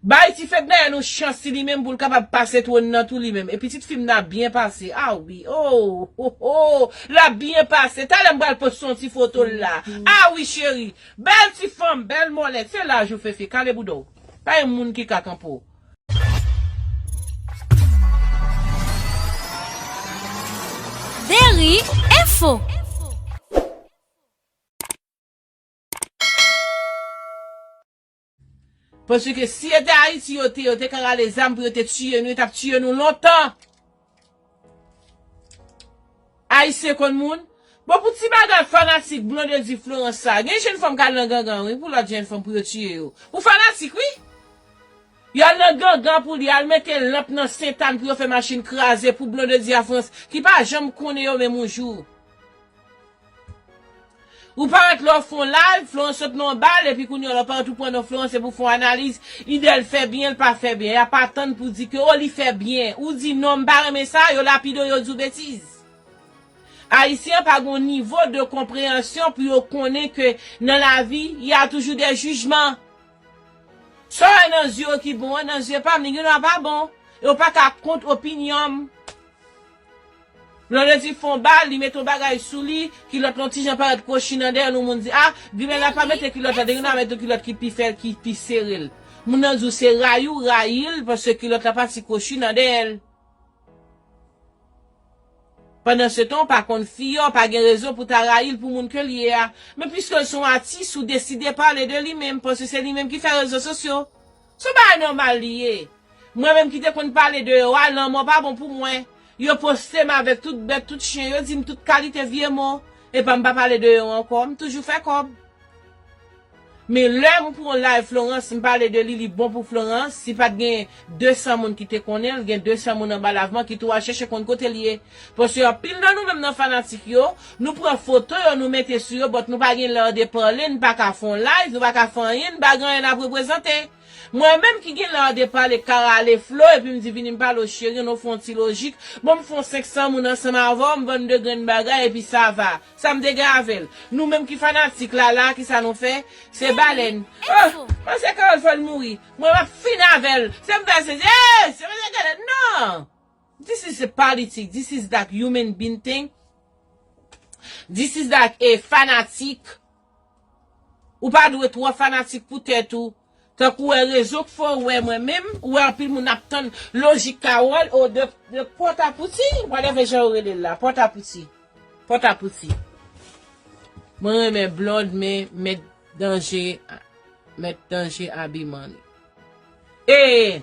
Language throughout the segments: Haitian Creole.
Bay ti fednaelle yon chans ti li menm poul kapab pase twòn nan tou li menm e pitit fim nan ap byen pase a wi oohh lap byen pase talè m pral poste yon ti fotol la a wi cheri bèl ti fanm bèl mòlet se laj ou fefe kale bouda w pa yon moun ki ka kanpe w. Deri Info. Paske si yo te Haiti yo te yo te ka rale zam pou yo te tiye nou yo tap tiye nou lontan. Haitien konn moun. Bon pou ti bagay fanatik Blondedy Florence sa gen jenn fanm kal nan gangan wi pou lot jenn fanm pou yo tiye yo. Pou fanatik wi. Yo al nan gangan pou li al mete lanp nan Saint Anne pou yo fè machin kraze pou Blondedy a France ki pa janm konnen yo menm yon jou. Ou parèt lè w fè yon live, fè yon sot nan yon bal, epi kounye a lè w parèt ou pran nan fè yon se pou w fè yon analiz, ide l fè byen, l pa fè byen. Y ap atann pou w di ke o li fè byen. Ou di non m pa renmen sa, yo lapide w, yo di w betiz. Ayisyen pa gen yon nivo de konpreyansyon pou yo konnen ke nan lavi, y a toujou dè jijman. Sa w wè nan zye w ki bon an, nan zye pa m li gendwa pa bon. E w pa ka kont opinyon m. Lè yo di fon ba, li mete yon bagay sou li, kilòt lan yon ti jan parèt kwochi nan dèyè l, yon moun di, a, ginen an pa mete kilòt la, te ginen an mete yon kilòt ki pi fè, ki pi sere l. Moun nan di w se rayi w rayi l paske kilòt la pati kwochi nan dèyè l. Pandansetan w pa konn fi a, w pa gen rezon pou w ta rayi l pou moun ke l ye a. Men piske l se yon atis, ou deside pale de li menm, paske se li menm ki fè rezo sosyo. Son bagay nòmal li ye. Mwen menm ki te konn pale de yo a, lanmò pa bon pou mwen. Yo poste m avèk tout bèt, tout chyen, yo di m tout kalite vye mo. Epa m pa pale de yo ankò, m toujou fè kòb. Men lè m pou yon live Florence, m pale de li, li bon pou Florence, si pat gen 200 moun ki te konnen l, gen 200 moun anba lav mwen ki tou al chèche konn kote l ye. Paske anpil nan nou menm nan fanatik yo, nou pran foto yo nou mete sou yo but nou pa gen l'art de parler, n paka fè yon live, nou paka fè anyen, n pa gen anyen nap reprezante. Mwen menm ki gen l'art de parler ka rale Flo epi m di vini m pale w cheri nou fè yon ti lojik, bon m fè yon 500 moun ansanm avè w, m vann 2 grenn bagay epi sa va. Sa m te gen avè l. Nou menm ki fanatik la la ki sa nou fè? Se bale n. Oh! Panse Carole fè l mouri. Mwen map fin avè l. Se m fè l se, eeyy! Se m fè l se gade, nan! This is a politic, this is that human being thing, this is that a fanatik, ou pa dwe twò fanatik pou tèt ou, tankou wè rezon k fè w wè mwen menm, ou wè anpil moun ap tann lojik Carole o de pòt a pouti, whatever jan yo rele l la, pòt a pouti, pòt a pouti. Mwen renmen Blonde men mèt danje mèt danje abiman li. E!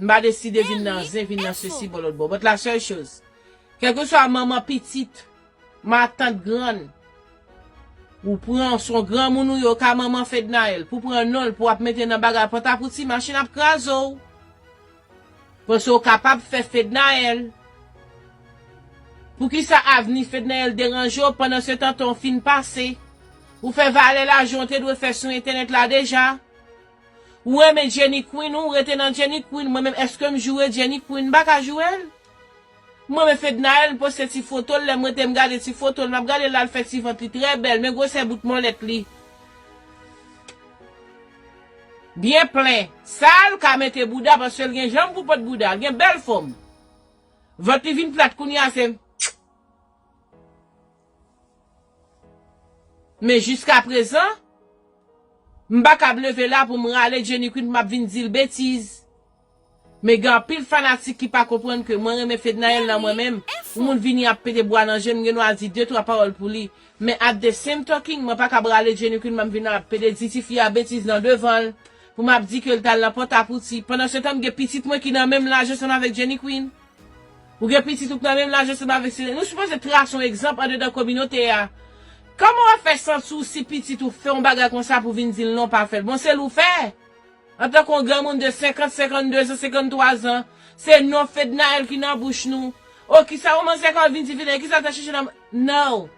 M pa deside vin nan zen, vin nan sesi bò lòtbò. But la seule chose, kèlkeswa manman pitit, matant grann, ou pran, son granmoun ou ye, ou ka manman Fednaelle, pou pran non l pou ap mete nan bagay pòtapouti, machin ap kraze w. Paske ou kapab fè Fednaelle. Poukisa avni Fednaelle deranje w pandansetan tan w fin pase? Ou fè valè lajan w te dwe fè sou entènèt la deja? Ou renmen Jenny Queen ou rete nan Jenny Queen mwen menm eskem joure Jenny Queen mpaka jourel m renmen Fednaelle m poste ti fotol lèm rete m gade ti fotol map gadel la l fè ti vant li trè bèl men gwosè bout mòlèt li byen plen sal ka mete bouda paskel gen janm pou pot bouda l gen bèl fòm vant li vin plat kounya se. Men jiska prezan, m pa kab leve la pou m rale Jenny Queen pou m ap vin di l betiz. Men gen anpil fanatik ki pa konprann ke mwen renmen Fednaelle nan mwen menm, yon moun vini ap pete bwa nan je m, m gen dwa di de twa pawòl pou li. Men at the same talking, mwen pa kab rale Jenny Queen pou m vin ap pete di tifi a betiz nan devan l, pou m ap di ke l t al nan Pòtapouti, pandansyetan m gen pitit mwen ki nan menm laj ansanm avèk Jenny Queen. Ou gen pitit ou k nan menm laj ansanm avèk sila. Nou sipoze trase yon egzanp andedan kominote a. Kòman w ap fè santi w si pitit ou fè yon bagay konsa pou vin di l non w pa fè l? Bon se l ou fè? Antanke yon granmoun de senkant, senkannde-zan, sekanntwa-zan, se non Fednaelle ki nan bouch nou. O kisa yon manzè ka vin di Fednaelle? Kisa l ta chèche nan. No!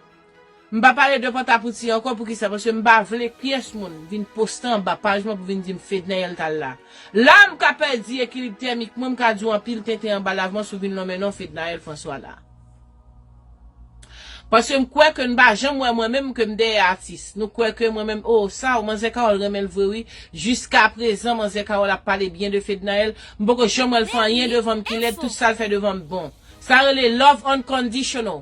M pa pale de pantapouti ankò poukisa paske m pa vle pyès moun vin poste anba paj mwen pou vin di m Fednaelle t al la la m ka pèdi ekilib tèmik mwen m ka di w anpil tenten anba lav mwen si w vin lonmen non Fednaelle François la paske m kwè ke n pa janm wè mwen menm ke m dèyè atis nou kwè ke mwen menm oo sa w manzè Carole renmen l vre wi jiska prezan manzè Carole ap pale byen de Fednaelle m poko janm wè l fè anyen devan m ki lèd tout sa l fè devan m bon sa rele love unconditional.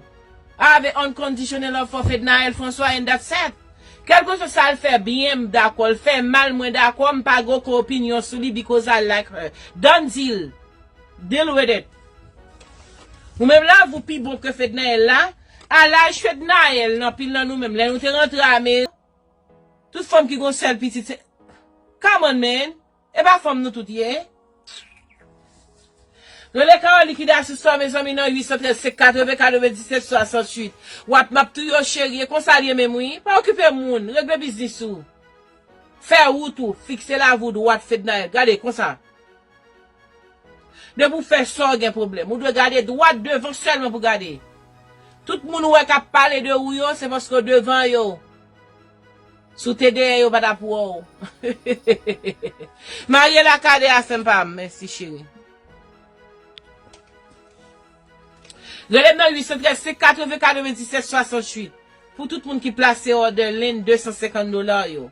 Ave unconditional love for Fednaelle François and that's it. Kelkeswa sal fè byen m dakò l fè mal mwen dakò m pa gen oken opinyon sou li because I like her. Done deal. Deal with it. Ou menm love ou pi bon ke Fednaelle la? A laj Fednaelle l anpil nan nou menm lè nou te rantre amerik tout fanm ki gon sèl pitit se Come on man. Epa fanm nou tout ye. Rele Carole likidasis sa mezanmi nan 813 se 80 97 68 wap map tou yo cheri e konsal ye menm wi pa okipe moun regle biznis ou fè wout ou fikse lavi w dwat Fednaelle gade konsa depi w fè sa w gen pwoblèm ou dwe gade dwat devan sèlman pou gade tout moun ou wè kap pale de ou yo se paske w devan yo. Si w te dèyè yo pa ta pou w. Mariela kade a sèm pam mèsi cheri. Relem nan 813 580 97 68 pou tout moun ki plase òdè lenn 250 dola yo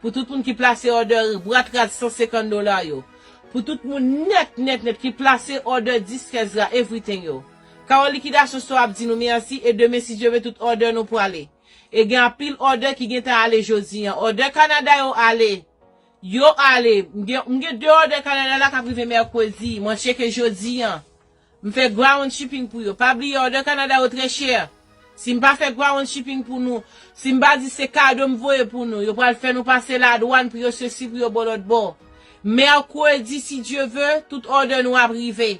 pou tout moun ki plase òdè bwat rad 150 dola yo pou tout moun nèt nèt nèt ki plase òdè disk ezra everything yo Carole liquidation store ap di nou merci e demen si Dye vle tout òdè nou prale E gen anpil òdè ki gentan ale jodi an. Òdè Kanada yo ale. Yo ale. M gen, m gen 2 òdè Kanada la k ap rive mèkredi. Mwen tcheke jodi an. M fè ground shipping pou yo. Pa bliye òdè Kanada yo trè chè. Si m pa fè ground shipping pou nou, si m pa di se kado m voye pou nou, yo pral fè nou pase ladwann pou yo sesi pou yo bo lòtbò. Mèkredi, si Dye ve, tout òdè nou ap rive.